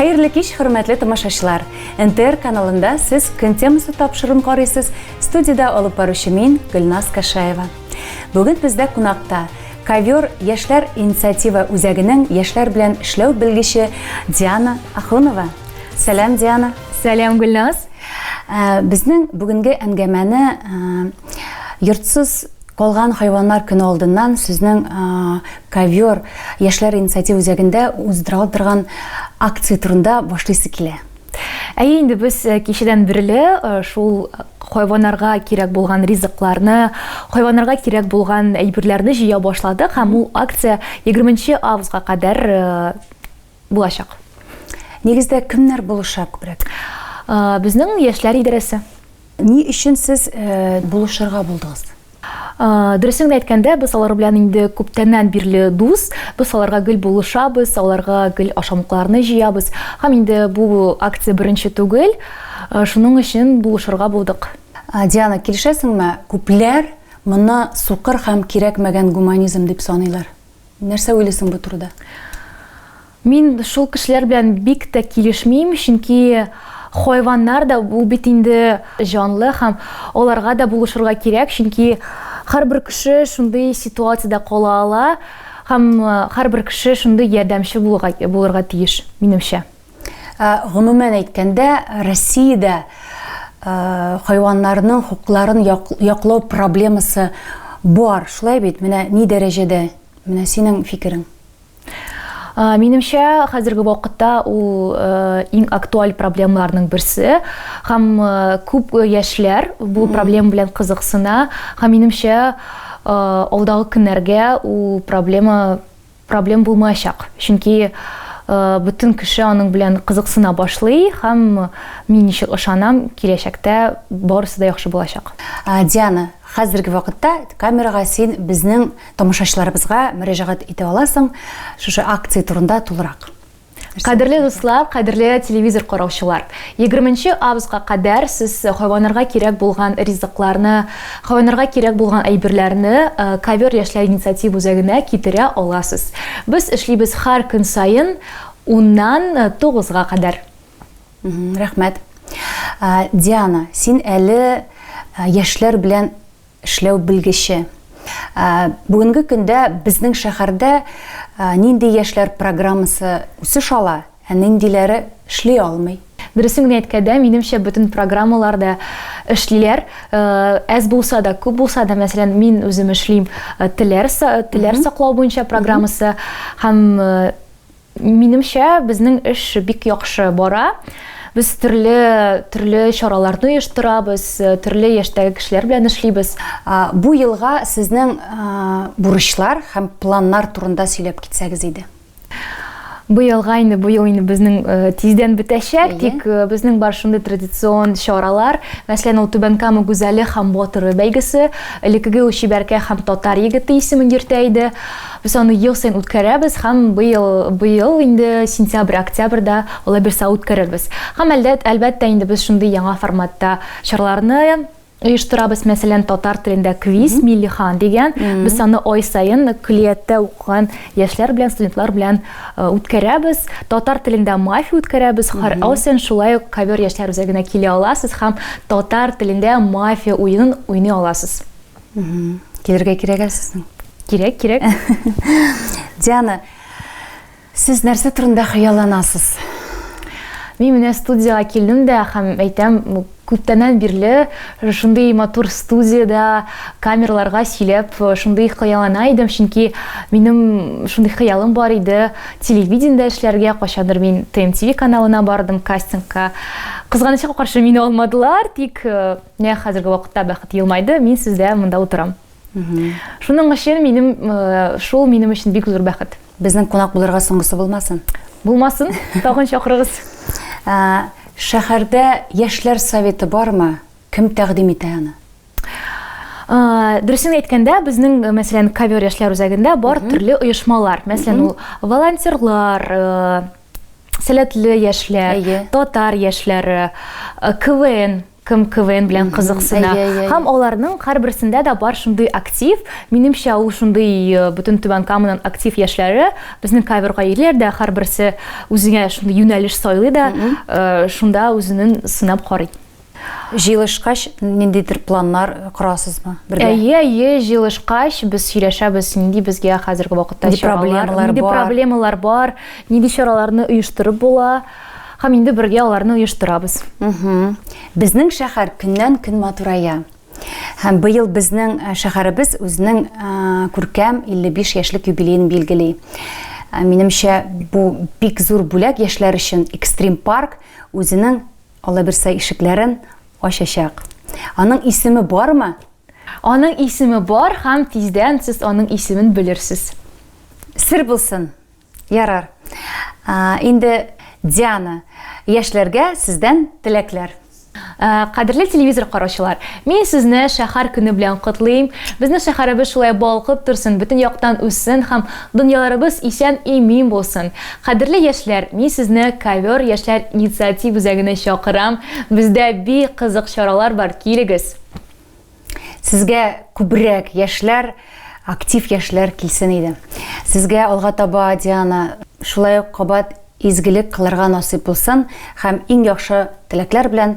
Хәерле кич, хөрмәтле тамашачылар. НТР каналында сез көн темасы тапшырым карыйсыз. Студиядә алып баручы мин, Гөлназ Кашаева. Бүген бездә кунакта Ковер яшьләр инициатива үзәгенең яшьләр белән эшләү белгече Диана Ахунова. Сәлам, Диана. Сәлам, Гөлназ. Э, безнең бүгенге әңгәмәне э, йортсыз калган хайваннар көне алдыннан сезнең ковер яшьләр инициатива үзәгендә уздырылып торган акция турында башлыйсы килә Әйе, инде без э, кичәдән бирле э, шул хайваннарга кирәк булган ризыкларны, хайваннарга кирәк булган әйберләрне җыя башладык һәм ул акция 20 августка кадәр э, булачак. Нигездә кемнәр булыша күбрәк? Безнең яшьләр идарәсе. Ни өчен сез булышырга булдыгыз? Дөресен генә әйткәндә, без алар белән инде күптәннән бирле дус. Без аларга гел булышабыз, аларга гел ашамлыкларны җыябыз. Һәм инде бу акция беренче түгел. Шуның өчен булышырга булдык. Диана, килешәсеңме? Күпләр моны сукыр һәм кирәкмәгән гуманизм дип саныйлар. Нәрсә уйлыйсың бу турыда? Мин шул кешеләр белән бик тә килешмим, чөнки хайваннар да бу бит инде җанлы һәм аларга да булышырга кирәк, чөнки һәрбер кеше шундый ситуациядә кала ала һәм һәрбер кеше шундый ярдәмче булырга тиеш, минемчә. Ә, гомумән әйткәндә, Россиядә ә, хайваннарның хокукларын яклау проблемасы бар, шулай бит? Менә ни дәрәҗәдә? Менә синең фикерең. Минемчә, хәзерге вакытта ул э, иң актуаль проблемаларның берсе һәм э, күп яшьләр бу проблема белән кызыксына һәм минемчә э, алдагы көннәргә ул проблема проблем булмаячак, чөнки бөтен кеше аның белән кызыксына башлый һәм мин ничек ышанам, киләчәктә барысы да яхшы булачак. Диана, хәзерге вакытта камерага син безнең тамашачыларыбызга мөрәҗәгать итә аласың, шушы акция турында тулырак. Кадерле дуслар, кадерле телевизор караучылар. 20 нче августка кадәр сез хайваннарга кирәк булган ризыкларны, хайваннарга кирәк булган әйберләрне э, ковер яшьләр инициатив үзәгенә китерә аласыз. Без эшлибез һәр көн саен 10ннан 9га э, кадәр. Рәхмәт. Э, Диана, син әле яшьләр белән Эшләү белгече. Бүгенге көндә безнең шәһәрдә нинди яшьләр программасы үсеш ала, ә ниндиләре эшли алмый? Дөресен генә әйткәндә, минемчә, бөтен программалар да эшлиләр. Әз булса да, күп булса да, мәсәлән, мин үзем эшлим теләр саклау буенча программасы һәм Минемчә, безнең эш бик яхшы бара. Без төрле, төрле чараларны оештырабыз, төрле яшьтәге кешеләр белән эшлибез. Бу елга сезнең бурычлар һәм планнар турында сөйләп китсәгез иде. Быелга инде, бу ел инде безнең тиздән бетәчәк, тик безнең бар шундый традицион чаралар. Мәсәлән, ул Түбән Кама гүзәле һәм батыры бәйгесе. Элекеге ул Чибәркәй һәм Татар егете исемен йөртә иде. Без аны ел саен үткәрәбез һәм быел, быел инде сентябрь, октябрьдә Лабирса үткәрербез. Һәм әлдә, әлбәттә инде без шундый яңа форматта чараларны оештырабыз, мәсәлән, татар телендә квиз, Милли хан дигән, без аны ай саен көллияттә укыган яшьләр белән, студентлар белән үткәрәбез. Татар телендә мафия үткәрәбез, һәр ай саен шулай ук ковер яшьләр үзәгенә килә аласыз һәм татар телендә мафия уенын уйный аласыз. Килергә кирәк ә сезнең? Кирәк, кирәк. Диана, сез нәрсә турында хыялланасыз? Мин менә студияга килдем дә һәм әйтәм, күптәннән бирле шундый матур студиядә камерларга сөйләп, шундый хыяллана идем, чөнки минем шундый хыялым бар иде, телевидениедә эшләргә, кайчандыр мин ТМТВ каналына бардым кастингка. Кызганычка каршы, мине алмадылар, тик э, Менә хәзерге вакытта Бәхет елмайды, мин сездә монда утырам. Шуның өчен минем шул минем өчен бик зур бәхет. Безнең кунак булырга соңгысы булмасын. Булмасын, тагын чакырыгыз. Шәһәрдә яшьләр советы бармы? Кем тәкъдим итә аны? Дөресен әйткәндә, безнең, мәсәлән, Ковер яшьләр үзәгендә бар төрле оешмалар. Мәсәлән, ул волонтерлар, Сәләтле яшьләр, татар яшьләре, КВН, кем КВН белән кызыксына. Һәм аларның һәрберсендә дә бар шундый актив, минемчә ул шундый э, бөтен Түбән Каманың актив яшьләре, безнең кайберга ирләр дә һәрберсе үзенә шундый юнәлеш сайлый да, э, шунда үзенең сынап карый. Җыелышкач, ниндидер планнар корасызмы бергә? Әйе, әйе, җыелышкач, без сөйләшәбез, нинди безгә хәзерге вакытта чаралар, нинди проблемалар бар, нинди чараларны оештырып була, һәм инде бергә аларны оештырабыз. Безнең шәһәр көннән-көн матурая. Һәм быел безнең э, шәһәребез үзенең э, күркәм 55 яшьлек юбилеен билгели. Э, минемчә, бу бик зур бүләк яшьләр өчен. Экстрим парк үзенең Алла бирсә ишекләрен ачачак. Аның исеме бармы? Аның исеме бар һәм тиздән сез аның исемен белерсез. Сер булсын. Ярар. Инде Диана, яшьләргә сездән теләкләр. Э, кадерле телевизор караучылар мин сезне шәһәр көне белән котлыйм безнең шәһәребез шулай балкып торсын бөтен яктан үссен һәм дөньяларыбыз исән имин булсын Кадерле яшьләр, мин сезне Ковер яшьләр инициатив үзәгенә чакырам. Бездә бик кызык чаралар бар, килегез! Сезгә күбрәк яшьләр, актив яшьләр килсен иде. Сезгә алга таба, Диана, шулай ук кабат изгелек кылырга насыйп булсын һәм иң яхшы теләкләр белән